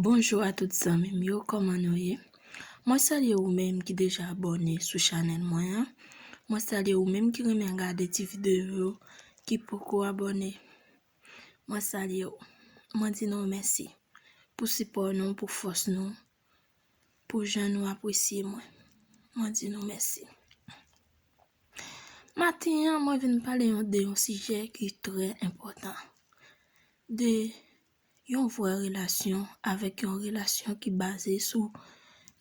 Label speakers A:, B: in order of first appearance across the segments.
A: Bonjou a tout zanmi m yo kòman nou ye mwen salye ou menm ki deja abòne sou chanèl mwen an mwen salye ou menm ki renmen gade ti videyo yo ki poko abòne mwen salye ou mwen di nou mèsi pou sipò nou pou fòs nou pou jan nou apresye mwen. Mwen di nou mèsi. Maten an, mwen vin pale yon de yon sijè ki trè enpòtan. De yon vrè relasyon avèk yon relasyon ki baze sou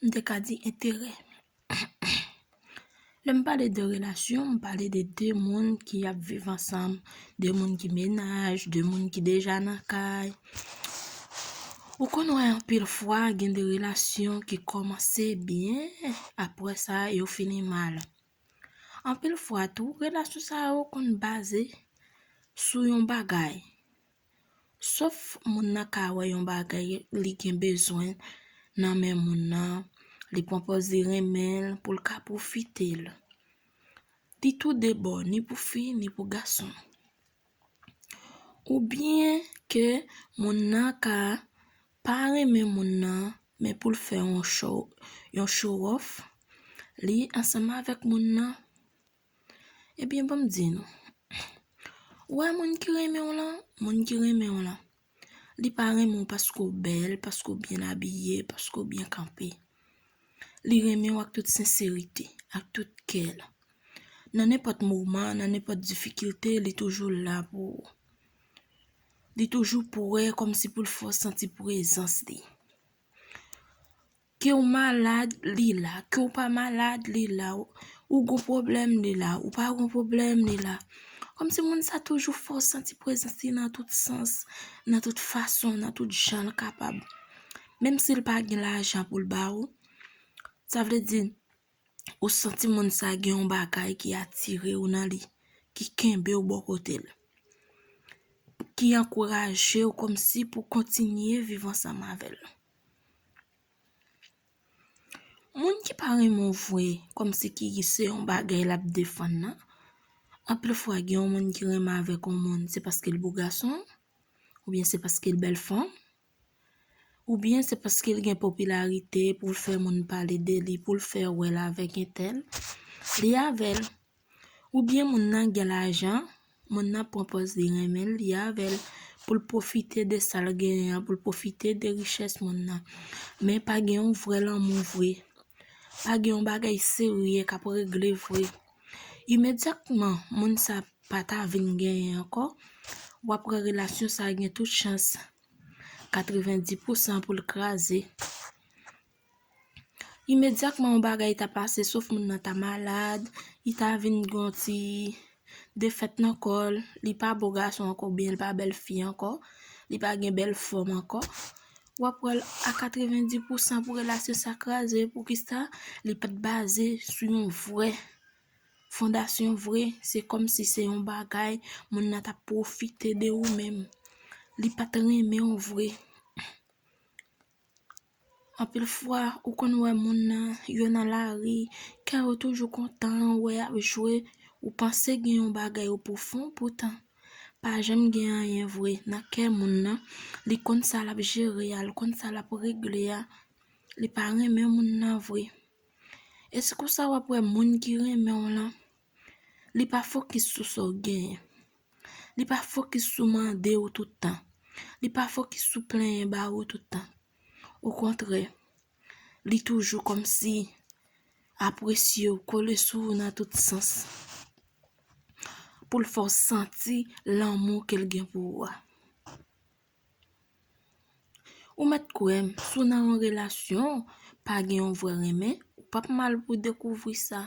A: m te ka di enterè. Lè m pale de relasyon, m pale de 2 moun ki ap viv ansanm, 2 moun ki mennaj, 2 moun ki deja nan kay. Ou konn wè anpil fwa gen de relasyon ki kòmanse byen, apre sa yo fini mal. Anpil fwa tou, relasyon sa yo konn baze sou yon bagay. Sof moun nan ka wè yon bagay li gen bezwen nan men moun nan, li pwonpoz li renmen l pou l ka pwofite l. Li tou de bò, ni pou fi, ni pou gason. Ou byen ke moun nan ka pa renmen moun nan, men pou l fè yon show off, li ansanm avèk moun nan. Ebyen banm di nou, ou wè moun ki renmen w lan, moun ki renmen w lan, li pa renmen w paske w bèl, paske w byen abiye, paske w byen kanpe. Li renmen w ak tout senserite, ak tout kè l. Nan nenpòt moman, nan nenpòt difikilte, li toujou la pou ou. Li toujou prè kòmsi pou l fè w santi prezans li. Ke w malad, li la. Ke w pa malad, li la. Ou gon pwoblèm, li la. Ou pa gon pwoblèm, li la. Kòm si moun sa toujou fè w santi prezans li nan tout sans, nan tout fason, nan tout jan l kapab. Menm si l pa gen lajan pou l ba ou, sa vle di, ou santi moun sa gen yon bagay ki atire w nan li, ki kenbe w bò kote l. Ki ankouraje w kòm si pou kontinye viv ansanm avè l. Moun ki pa renmen w vwe kòm si ki se yon bagay l ap defann nan. Anpil fwa gen yon moun ki renmen avèk yon moun se paske l bo gason, oubyen se paske l bèl fanm, oubyen se paske l gen popilarite pou l fè moun pale de li, pou l fè wè l avèk entèl, li avè l. Ou byen moun nan gen lajan, moun nan pran pòz li renmen l, li avè l, pou l pwofite de sa l genyen an, pou l pwofite de richès moun nan. Men pa gen yon vrè lanmou vre. Pa gen yon bagay serye k ap regle vre. Imedyatman moun sa pa ta vin genyen ankò, w ap wè relasyon sa gen tout chans 90 pousan pou l kraze. Imedyakman yon bagay ta pase sof moun nan ta malad, li ta vin gen yon ti defèt nan kò l, li pa bo gason ankò oubyen li pa bèl fi ankò, li pa gen bèl fòm ankò, w ap wè l a 90 pousan pou relasyon sa kraze. Poukisa? Li pa t baze sou yon vrè fondasyon vre. Se kòmsi se yon bagay moun nan t ap pwofite de ou menm. Li pa t renmen w vre. Anpil fwa ou konn wè moun nan yo nan lari, kè yo toujou kontan, wè y ap jwe, ou panse gen yon bagay ou pou fon poutan pa janm gen anyen vre nan kè moun nan, li konn sa l ap jere a, li konn sa l ap regle a, li pa renmen moun nan vre. E se konsa w ap wè moun ki renmen w lan. Li pa fokis sou sa w genyen. Li pa fokis sou mande ou tout tan. Li pa fokis sou plenyen ba ou tout tan. Okontrè, li toujou kòmsi apresye ou, kole sou ou nan tout sans pou l fè w santi lanmou ke l gen pou ou a. Ou mèt kwè m, si w nan yon relasyon, pa gen yon vrè renmen, ou p ap mal pou w dekouvri sa.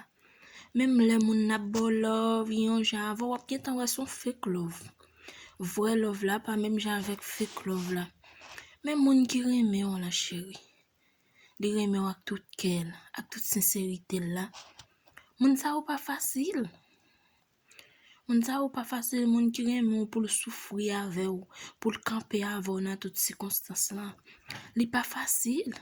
A: Menm lè moun nan ap ba w lòv, gen yon jan avè w, w ap gentan wè se yon fake lòv. Vrè lòv la pa menm jan avèk fake lòv la. Men moun ki renmen w la cheri, li renmen w ak tout kè l, ak tout senserite l la, moun sa yo pa fasil. Moun sa yo pa fasil, moun ki renmen w pou l soufri avè w, pou l kanpe avè w nan tout sikonstans lan, li pa fasil.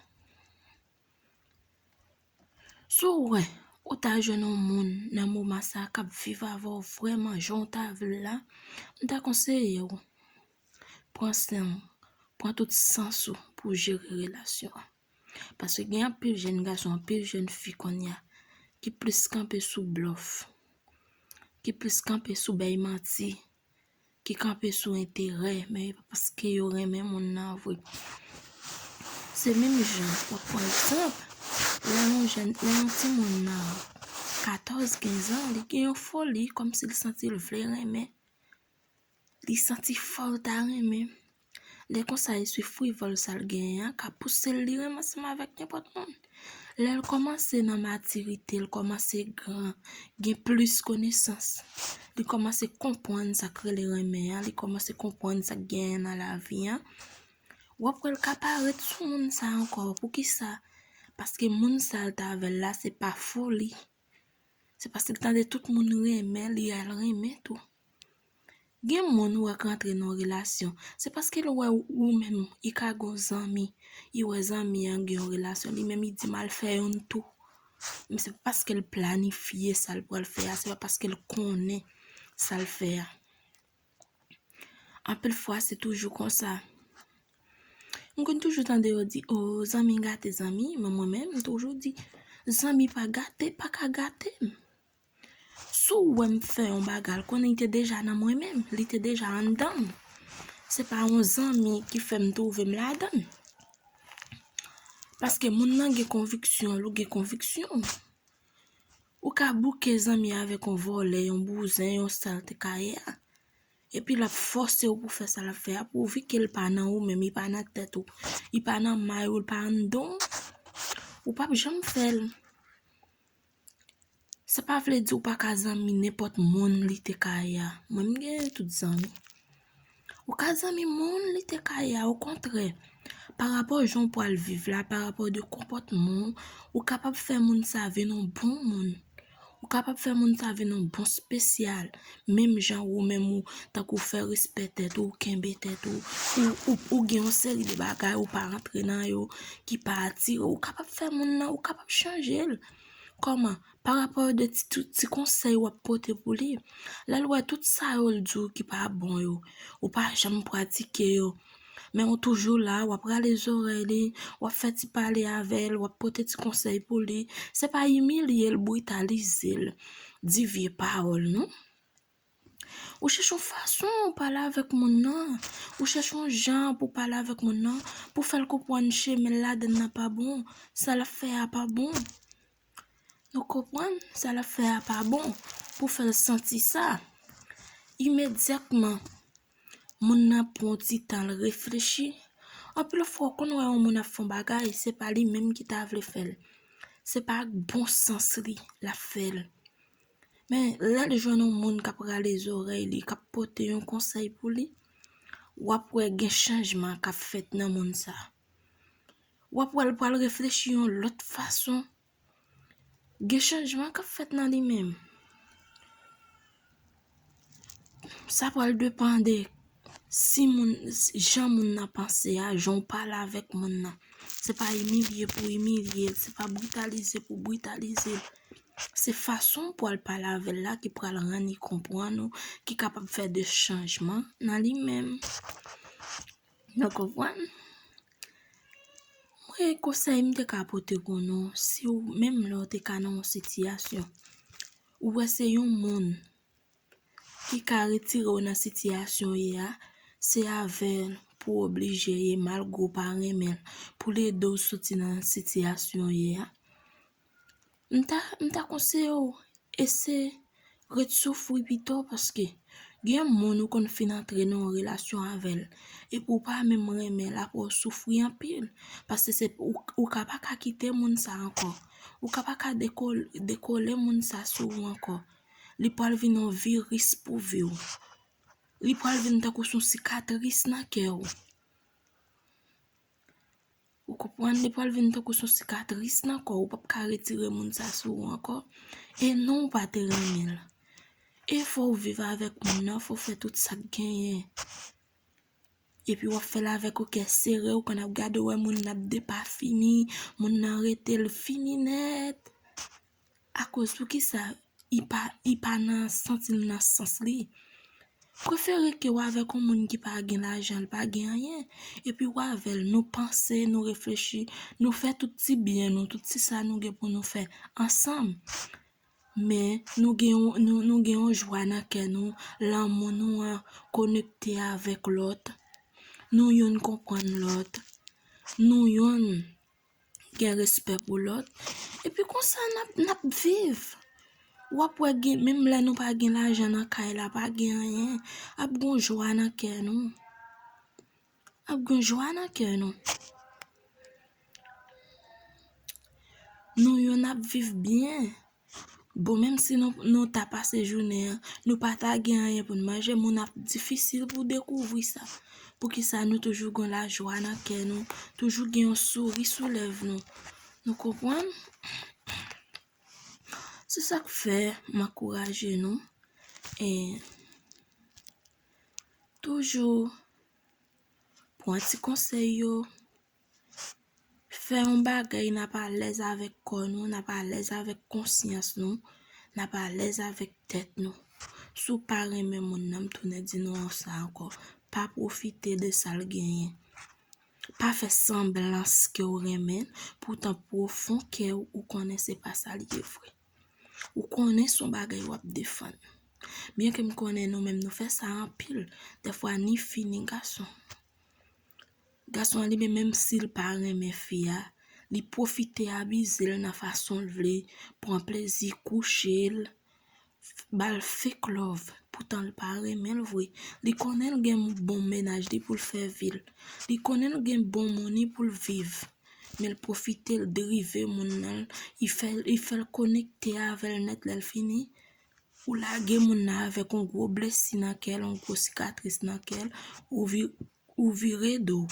A: Si w wè ou ta jwenn yon moun nan moman sa a k ap viv avè w vrèman jan w ta vle l la, m ta konseye w pran san w, pran tout sans ou pou w jere relasyon an. Paske gen anpil jèn gason, anpil jèn fi konya ki plis kanpe sou blòf, ki plis kanpe sou bay manti, ki kanpe sou enterè, men e pa paske yo renmen moun nan vre. Se menm jan, wap pran egzanp, lè yon jèn, lè yon timoun nan 14, 15 an, li gen yon foli, kòmsi li santi l vle renmen, Li santi fòl ta renmen. Lè konsa e se frivòl sal genyen an ka pousel li renmen ansanm avèk nenpòt moun. Lèl kòmanse nan matirite, l kòmanse gran, gen plis konesans, li kòmanse konprann sak rele renmen an, li kòmanse konprann sak genyen nan lavi an, wap wèl ka pa ret sou moun sa ankò, poukisa? Paske moun sal t avèl la se pa foli. Se paske l tande tout moun renmen li a l renmen tou. Gen moun ou wè k rantre nan yon relasyon, se paske l wè ou menm li ka gen yon zanmi, li wè zanmi an gen yon relasyon li menm li di m al fè youn tou. Men se pa paske l planifye sa l pral fè a, se pa paske l konnen sa l fè a. Anpil fwa se toujou konsa. M konn toujou tande yo di, oh zanmi gate zanmi, men mwen menm m toujou di, zanmi pa gate, pa ka gate m. Si w wè m fè yon bagay, l konnen li te deja nan mwen menm, li te deja anndan m. Se pa yon zanmi ki fè m twouve m ladan l. Paske moun nan gen konviksyon l, ou gen konviksyon w. Ou ka bouke zanmi avèk yon vòlè, yon bouzen, yon sal te ka ye a. Epi l ap fòse ou pou fè sa l ap fè a pouvi ke l pa nan ou menm, li pa nan tèt ou, li pa nan may ou, li pa anndan w, ou p ap janm fè l. Sa pa vle di ou pa ka zanmi nenpòt moun li te ka ye a. Mwen m gen tout zanmi. Ou ka zanmi moun li te ka ye a okontrè. Pa rapò jan ou pral viv la, pa rapò de konpòtman ou, ou kapab fè moun sa vin yon bon moun. Ou kapab fè moun sa vin yon bon spesyal. Menm jan ou menm ou tankou fè respè tèt ou, kenbe tèt ou, ou gen yon seri de bagay ou pa rantre nan yo ki pa atire ou. Ou kapab fè moun nan, ou kapab chanje l. Kòman? Pa rapò de ti tout ti konsèy wap pote pou li, lèl wè tout sa yo l di w ki pa bon yo, ou pa janm pratike yo, men ou toujou la, wap rale zorèy li, wap fè ti pale avè l, wap pote ti konsèy pou li, se pa imilye l, britalize l, di vye pawòl non. Ou chèche yon fason ou pale avèk moun nan, ou chèche yon jan pou pale avèk moun nan, pou fè l konpwann chemen l ladann nan pa bon, sa l ap fè a pa bon. Nou konpwann? Sa l ap fè a pa bon, pou fè l santi sa. Imedyatman, moun nan pran yon ti tan l reflechi. Anpil fwa ou konn wè yon moun ap fè yon bagay, se pa li menm ki ta vle fè l. Se pa ak bon sans li l ap fè l. Men, lè l jwenn yon moun k ap rale zòrèy li, k ap pote yon konsèy pou li, w ap wè gen chanjman k ap fèt nan moun sa a. W ap wè l pral reflechi yon lòt fason. Gen chanjman k ap fèt nan li menm. Sa pral depan de si moun, jan moun nan panse a, jan ou pale avèk moun nan. Se pa imilye pou imilye l, se pa britalize pou britalize l. Se fason ou pral pale avè l la ki pral rann li konprann ou, ki kapab fè de chanjman nan li menm. Nou konprann? Mwen konsèy m te ka pote pou nou, si ou menm lè ou te ka nan yon sitiyasyon, ou wè se yon moun ki ka retire w nan sitiyasyon w ye a, se avè l pou w oblije ye malgre w pa renmen l, pou l ede w soti nan sitiyasyon w ye a. M ta, m ta konseye w ese ret soufri pito paske gen moun ou konn fin antre nan yon relasyon avè l epi w pa menm renmen l aprè w soufri anpil paske se pou, ou ka pa ka kite moun sa ankò, ou ka pa ka dekole moun sa sou ou ankò. Li pral vin yon viris pou vi w. Li pral vin tankou son sikatris nan kè w. Ou konprann? Li pral vin tankou son sikatris nan kò w. Ou pap ka retire moun sa sou ou ankò. E non ou pa te renmen l. E fò ou viv avèk moun nan, fò ou fè tout sa k genyen. Epi w ap fè l avèk yon kè sere, ou konn ap gade wè moun nan ap depafini, moun nan rete l fini nèt. Akoz poukisa I pa nan santi l nan sans li. Prefere ke w avèk yon moun ki pa gen lajan, li pa gen anyen, epi w avè l, nou panse, nou reflechi, nou fè tout ti byen nou, tout ti sa nou gen pou nou fè ansanm. Men, nou gen yon jwa nan kè nou, lanmou nou an konekte avèk lòt, nou youn konprann lòt, nou youn. gen respè pou lòt, epi konsa n ap viv. W ap wè gen menm lè nou pa gen lajan nan kay la, pa gen anyen, ap gen yon jwa nan kè nou. Ap gen yon jwa nan kè nou. Nou youn ap viv byen. Bon menm si nou nou ta pase jounen an nou pa ta gen anyen pou n manje moun ap difisil pou dekouvri sa poukisa nou toujou gon lajwa nan kè nou toujou gen yon souri sou lèv nou nou konprann se sak fè m ankouraje nou e toujou pwan ti konsèy yo Fè yon bagay n ap alèz avèk kò nou, n ap alèz avèk konsyans nou, n ap alèz avèk tèt nou. Si w pa renmen moun nan, m tounen di nou sa ankò, pa pwofite de sa l genyen. Pa fè sanblans ke w renmen l, poutan pwofon kè w, ou konnen se pa sa l ye vre. Ou konnen se yon bagay w ap defann. Byenke m konnen nou menm nou fè sa anpil, dèfwa ni fi ni gason. Gason an li menm menm sil pa renmen fi a li pwofite abizel nan fasonl vle pran plezi kouchel bal fek love poutanl pa renmenl vre li konnenl gen bon mennaj li poul fè vil li konnenl gen bon moun li poul viv menl pwofitel drive moun nan li fèl konekte avèl nèt lèl fini ou lage moun nan avèk yon gwo blesi nan kèl yon gwo sikatris nan kèl ou vire Ou vire do.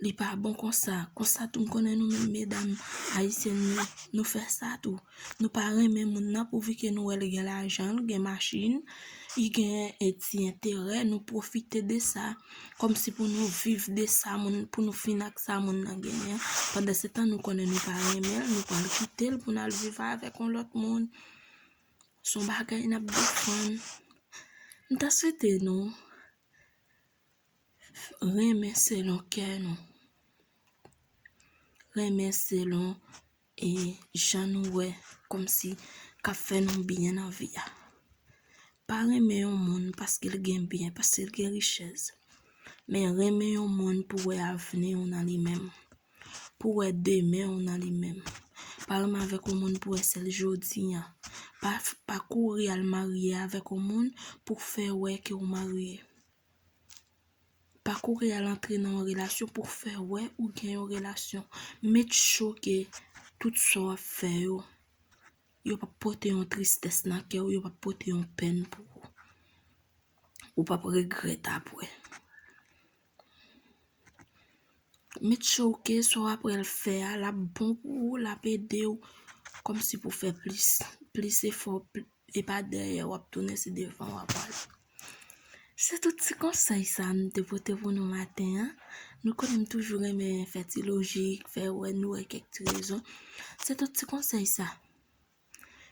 A: Li pa bon konsa. Konsa tou m konnen nou menm medam ayisyèn yo, nou fè sa tou. Nou pa renmen moun nan pouvi ke nou wè li gen lajan, li gen machin, li gen e ti enterè, nou pwofite de sa. Kòmsi pou nou viv de sa moun, pou nou fin ak sa moun nan genyen. Pandasetan nou konnen nou pa renmen l, nou pral kite l pou n al viv avèk yon lòt moun. Son bagay nap defann. M ta swete nou renmen selon kè nou. Renmen selon e jan nou wè kòm si kap fè nou byen nan vi a. Pa renmen yon moun paske l gen byen, paske l gen richès. Men renmen yon moun pou wè avni w nan li menm. Pou wè demen w nan li menm. Pa renmen avèk yon moun pou wè sèl jodi an. Pa kouri al marye avèk yon moun pou k fè wè ke w marye. Pa kouri al antre nan yon relasyon pou k fè wè ou gen yon relasyon. Make sure ke tout sa w ap fè yo, yo p ap pote yon tristès nan kè w, yo p ap pote yon pèn pou ou. Ou p ap regrèt apre. Met chouke sa w apral fè a l ap bon pou ou, l ap ede w kòmsi pou w fè plis, plis efò, e pa dèyè w ap tounen se devan w ap al. Se tout ti konsèy sa m te pote pou nou maten an. Nou konnen m toujou renmen fè ti lojik, fè wè nou wè kèk ti rezon. Se tout ti konsèy sa.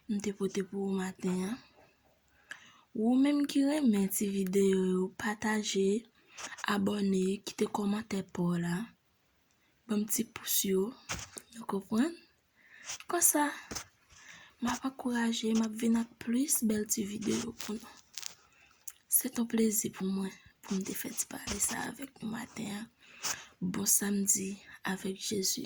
A: m te pote pou ou maten an. Wou menm ki renmen ti videyo yo pataje, abòne, kite kòmantè pa w la. Ban m ti pous yo, nou konprann? Konsa, m ap ankouraje, m ap vin ak plis bèl ti videyo pou nou. Se t on plezi pou mwen pou m te fè ti pale sa avèk nou maten an. Bon samdi avèk Jezi.